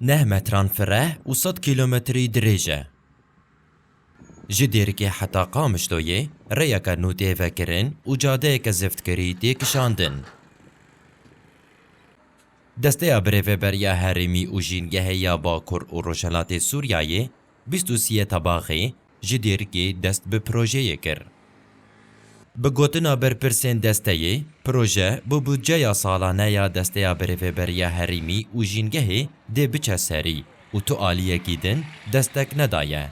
Neh metran fireh û sed kîlometrî dirêj e. Ji Dêrikê heta Qamişloyê rêyeke nû tê vekirin û cadeyeke ziftkirî tê kişandin. Desteya Birêveberiya Herêmî û Jîngehê ya Bakur û Rojhilatê Sûriyeyê, Bîst û sî tabaxê ji dêrikê dest bi projeyê kir. Bi gotina berpirsên desteyê, proje bi budceya salane ya Desteya Birêveberiya Herêmî û Jîngehê dê biçe serî û tu aliyekî din destek nedaye.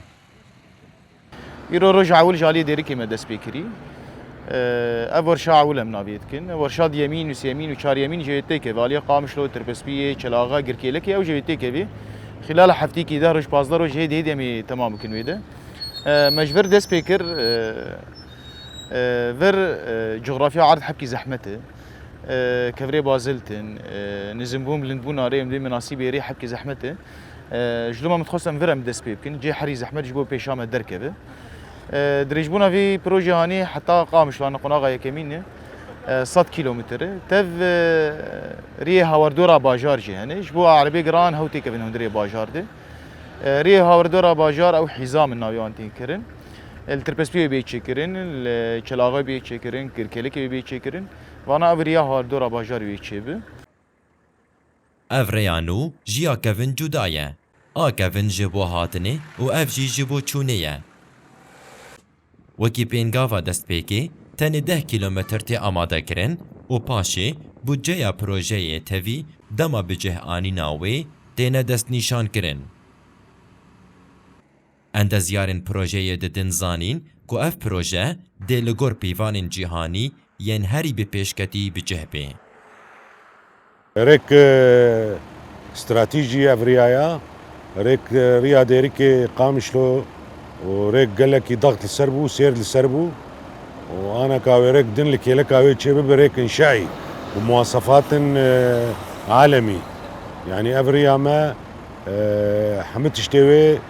Îro roja ewil ji aliyê dêrikê me dest pê kirî. Ev werşa ewil em navê dikin. Ev werşa diyemîn û sêyemîn û çaryemîn jê yê têkeve. Aliyê Qamişlo, Tirkespiyê, Çelaxe, Girkêlekê ew jê yê têkevî. Xîlala heftîkî deh roj, pazdeh roj hêdî hêdî em ê temam bikin wê de. Me ji vir dest pê kir. Vir cografya erd hepkî zehmet e. Kevirê bazilt in, nizimbûn bilindbûn arê em dê minasîb êrê hepkî zehmet e. Ji doma min dixwest em vir em dest pê bikin. Cê herî zehmet ji bo pêşa me derkeve. Dirêjbûna vê projeyê hanê heta Qamişlo ne qonaxa yekemîn e. Sed kîlometre e. Tev rêyê hawerdora bajar jî hene. Ji bo erebê giran hew têkevin hundirê bajar de. Rêyê hawerdora bajar ew hîza min navê wan tên kirin. Li Tirpespî wê bê çêkirin, li Çelaxê wê bê çêkirin, Kirkelikê wê bê çêkirin. Vana ev rêya hawerdora bajarê wê çêbi. Ev rêya nû ji ya kevin cuda ye. A kevin ji bo hatinê û ev jî ji bo çûnê ye. Wekî pêngava destpêkê tenê deh kîlometr tê amadekirin û paşê budceya projeyê tevî dema bi cih anîna wê têne destnîşankirin. Endezyarên projeyê didin zanîn ku ev proje dê li gor pîvanên cîhanî yên herî bi pêşketî bi cih bê. Rêk stratejî ev riya ye. Rêk riya Dêrikê Qamişlo û rêk gelekî daxt li ser bû, sêrd li ser bû û aneka wê rêk din li kêleka wê çê bibe rêk înşaî bi muwasefatên alemî. Yanî ev riya me hemû tiştê wê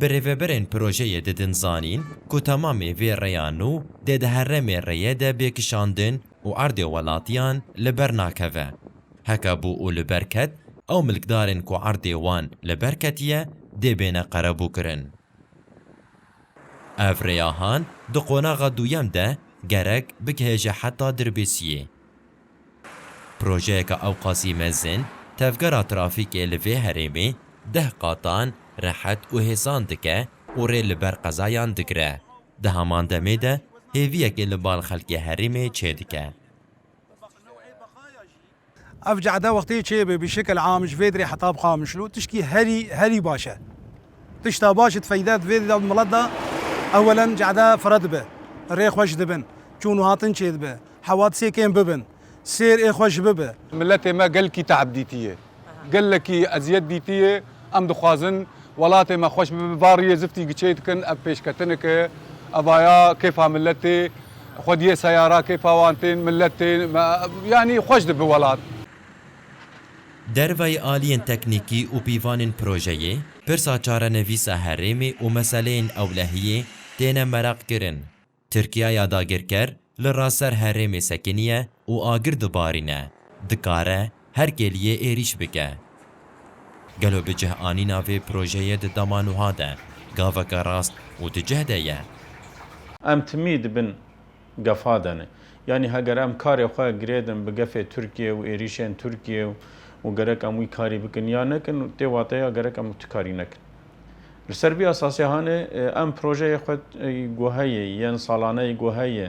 Birêveberên projeyê didin zanîn ku temamê vê rêya nû dê di heremê rêyê de bê kişandin û erdê welatiyan li ber nakeve. Heke bû û li ber ket, ew milkdarên ku erdê wan li ber ketiye dê bêne qerebûkirin. Ev rêya han di qonaxa duyem de gerek bigihêje heta Dirbêsiyê. Projeyeka ewqasî mezin, tevgera trafîkê li vê herêmê deh qatan rehet û hêsan dike û rê li ber qezayan digire. Di heman demê de hêviyekê li bal xelkê herêmê çêdike. Ev cehde wextê çêbe bi şekil am ji vê derê heta bi Qamişlo tiştî herî herî baş e. Tişta baş ê difeyde di vê milet de ewelen cehde firedibe, rê xweş dibin, çûn û hatin çêdibe, Hewa çêkên bibin. Sêr ê xwe ji bi bi. Miletê me gelkî te'b dîtiye. Gelekî eziyet dîtiye. Em dixwazin welatê me xweş bibe. Bariyê ziftî giçey dikin. Ev pêşketinek e. Evaya kêfa miletê. Xwediyê seyara kêfa wan tên. Milet tên. Yanî xweş dibi welat. Derveyî aliyên teknîkî û pîvanên projeyê, pirsa çarenivîsa herêmê û meseleyên ewlehiyê têne meraqkirin. Tirkiya ya dagirker li raser herêmê sekiniye û agir dibarîne, dikare her kêliyê êrîş bike. Gelo bi cih anîna vê projeyê di dema nuha de gaveke rast û di cih de ye? Em timî di bin gefa de ne. Yanî heger em karê xwe girêdin bi gefê Tirkiyê û êrîşên Tirkiyê û gerek em wî karî bikin ya nekin, tê wateya gerek em tu karî nekin. Li ser vî esasê hanê em projeyê xwe guheyê yên salaneyê guheyê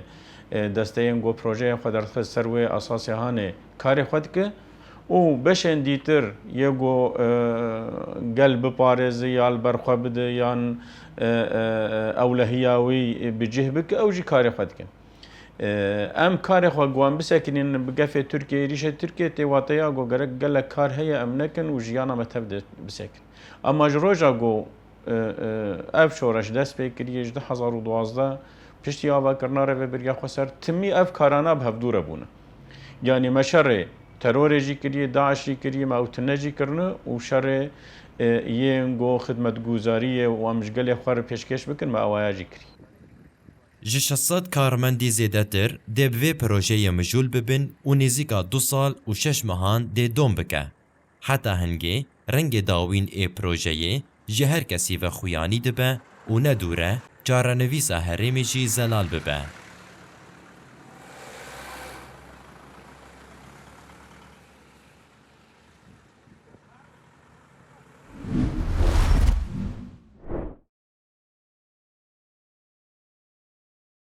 desteyên got projeyê xwe derdixist ser wê esasê hanê karê xwe dike û beşên dîtir yê got gel biparêzi ya li ber xwe bide yan ewlehiya wî bi cih bike ew jî karê xwe dike. Em karê xwe got em bisekinîn bi gefê Tirkiyeyê êrîşê Tirkiyeyê tê wateya got gerek gelek kar heye em nekin û jiyana me tev dê bisekin. Ema ji roja ku ev şoreş dest pê kiriye ji du hezar û duwazdeh piştî avakirina rêveberiya Xweser timî ev karana bi hevdû re bûne. Yanî me şerê terorê jî kiriye, DAIŞ jî kiriye, me ew tune jî kirine û şerê yên ku xidmetguzarî ye û em ji gelê xwe re pêşkêş bikin me ewaya jî kiriye. Ji şeş sed karmendî zêdetir dê bi vê projeyê mijûl bibin û nêzîka du sal û şeş mehan dê dom bike. Heta hingê rengê dawîn ê projeyê ji her kesî ve xuyanî dibe û ne dûr e çarenivîsa herêmê jî zelal bibe.